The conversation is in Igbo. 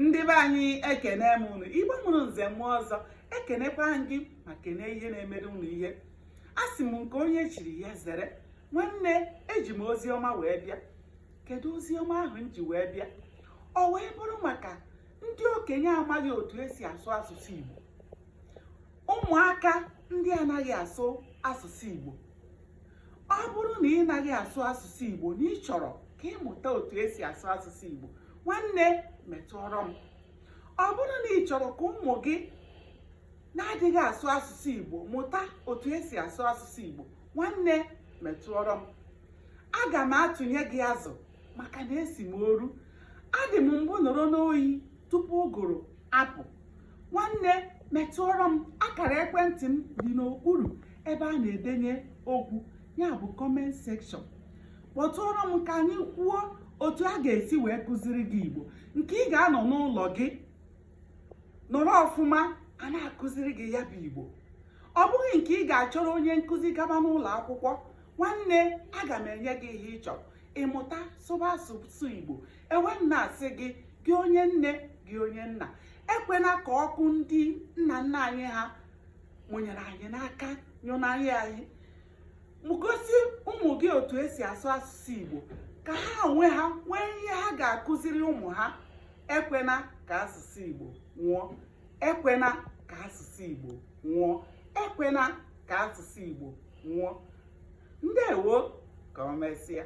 ndị be anyị ekene m unu igbo mụrụ nze mụọ ọzọ ekenekwaa m gị ma kene ihe na-emere unu ihe asị m nke onye chiri ya zere nwanne eji m ozi ọma wee bịa kedu ozi ọma ahụ m ji wee bịa ọ wee bụrụ maka ndị okenye amaghị otu esi asụ asụsụ igbo ụmụaka ndị anaghị asụ asụsụ igbo ọ bụrụ na ị naghị asụ asụsụ Igbo na ị chọrọ ka ị mụta otu esi asụ asụsụ Igbo nwanne metụọrọ m ọ bụrụ na ị chọrọ ka ụmụ gị na-adịghị asụ asụsụ Igbo mụta otu esi asụ asụsụ Igbo nwanne metụọrọ m aga m atụnye gị azụ maka na esi m oru adị m mbụ nọrọ n'oyi tupu ụgụrụ apụ nwanne metụọrọ m akara ekwentị m dị n'okpuru ebe a na-edenye okwu ya bụ comment section kpọtụọrọ m ka anyị kwuo otu a ga-esi wee kụziri gị igbo nke ị ga-anọ n'ụlọ gị nọrọ ọfụma a na-akụziri gị ya bụ igbo ọ bụghị nke ị ga-achọrọ onye nkụzi gaba n'ụlọ akwụkwọ nwanne aga m enye gị ihe ị chọrọ ị mụta sụba asụsụ igbo ewee m na-asị gị gị onye nne gị onye nna ekwena ka ọkụ ndị nna nna anyị ha mụnyere anyị n'aka nyụnarị anyị gosi ụmụ gị otu esi asụ asụsụ igbo ka ha onwe ha nwee ihe ha ga-akụziri ụmụ ha ekwena ka asụsụ igbo nwụọ ekwena ka asụsụ igbo nwụọ ekwena ka asụsụ igbo nwụọ ndewo ka o mesịa